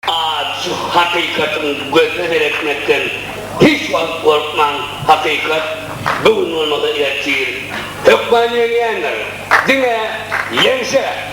Aç hakykatyň gözüne seretmekden hiç wagt gorkmaň, hakykat bu gün bolmasa ertir hökman ýeňýändir. Diňe ýeňşe!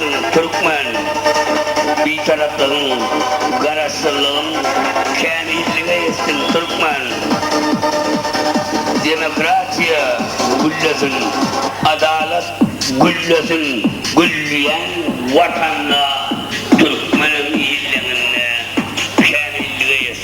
Türkmen Bitaraplygyň, Garaşsyzlygyň, Kämillige ýetsin Türkmen Demokratiýa güllesin, Adalat güllesin Gülleýän Watanda Türkmeniň Ýyllygyna Kämillige ýetsin.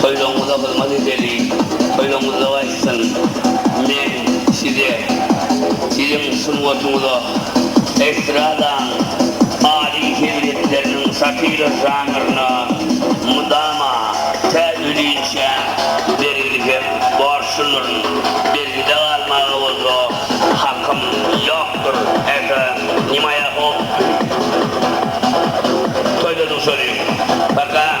Toýlaryňyza hyzmat edeli, toýlaryňyzda gaýtsyn. Men size siziň sungatyňyza estradanyň aly heziretleriniň satira žanryna mydama tä ölinçä bergili hem borçludyryn. Bergide galmaga bolsa hakym ýokdur. Eke, nima ýa hop. Toýladyň şony. Paka.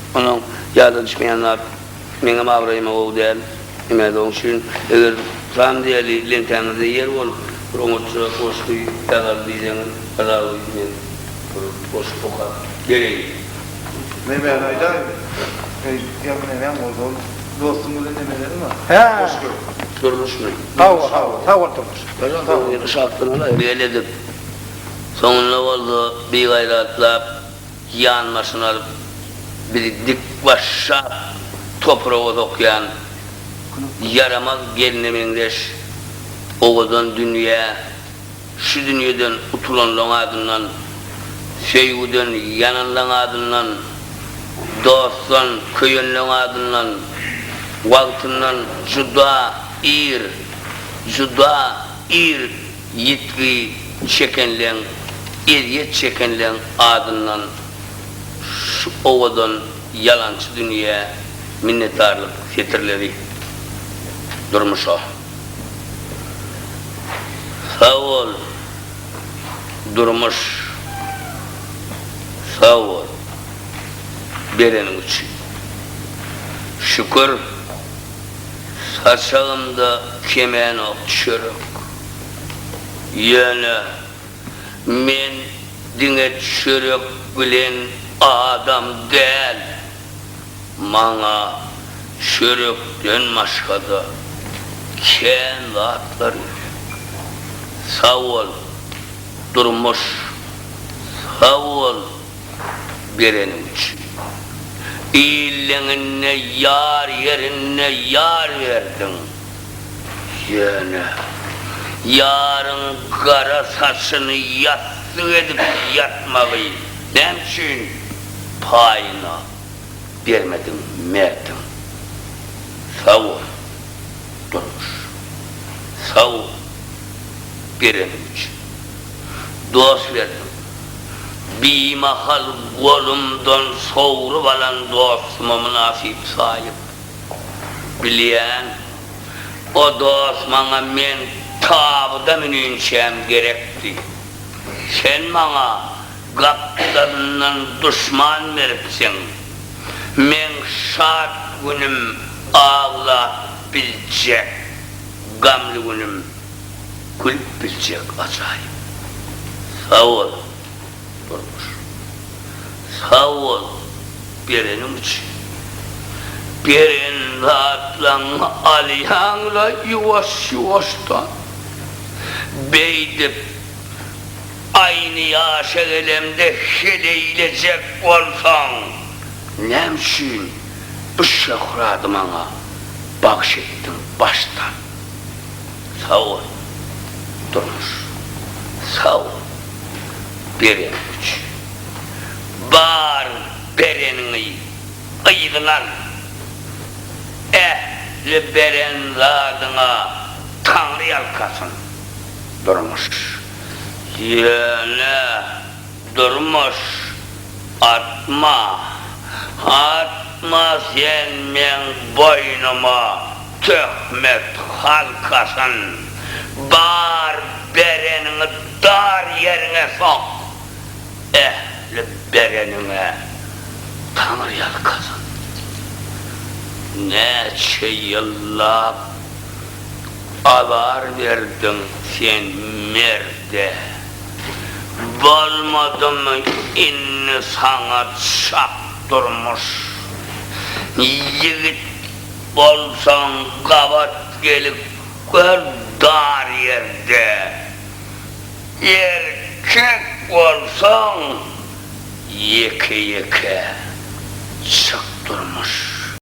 Onuň ýada düşmeýän zat, Meňem abraýyma gowy däl. Näme-de oň üçin, eger tam diýeli leňtäňizde ýer bolup, bir oňatja goşgy ýazaly diýseňiz, ýazaly, men bir goşgy okap bereýin. Nebäni aýdaýyn? Eý, ýa neneň ozal dostuň bilen nemeleriň bar? Goşgy. Durmuşmy? Hawa, hawa. Sag bol, Durmuş. Ýa-da bir gyzy şatlanaly, geledip, soňunda bolsa bigaýratlap. Ýanbaşyny alyp, bizi dikbaşşap topraga sokýan ýaramaz gelne meňzeş owadan dünýä, şu dünýeden utulanlaň adyndan, söýgüden ýananlaň adyndan, dostdan köýenleň adyndan, wagtyndan juda ir, juda ir, Ýitgi çekenleň, ezýet çekenleň adyndan şu owadan ýalançy dünýä minnetdarlyk setirleri Durmuşa. Sag bol, Durmuş! Sag bol, bereniň üçin. Şükür! Saçagymda kemenok düşerek. Ýöne men diňe düşerek bilen adam däl. Maňa çörekden başga-da kän zatlar gerek. Sag bol, Durmuş. Sag bol. bereniň üçin. Illeňinde ýar ýerinde ýar berdiň. Ýöne, ýaryň gara saçyny ýassyk edip ýatmagy näme üçin paýyna bermediň merdiň? Sag bol, Durmuş. Sag bol, bereniň üçin. Dost geldim. Bimahal golumdan sogrup alan dostuma mynasyp saýyp, Bilýän, o dost maňa men tabyda müninçäm gerekdi. Sen maňa gapdalyndan duşman beripsiň. Meň şat günüm aglap biljek gamly günüm. Gülüp biljek ajaýyp. Sagol Durmuş. Sagbol bereniň üçin. Beren zatlaňňy alýaňla ýuwaş ýuwaşdan. Beýdip aýny ýaşa gelemde heleýlejek bolsaň näme üçin bu şöhraty maňa bagş etdiň başdan. Sag bol durmuş sag bol bereniň üçin bar bereniňi yzyna al ähli beren zadyňa taňry ýalkasyn durmuş ýöne durmuş atma atma sen meň boýnuma. Töhmet halkasyn bar bereniňi dar ýeriňe sok ähli bereniňe taňryýalkasyn näçe ýyllap azar berdiň sen merde bolmadymy indi saňa çak durmuş ýigit Bolsaň gabat gelip gör dar ýerde. Erkek bolsaň ýeke-ýeke çyk durmuş.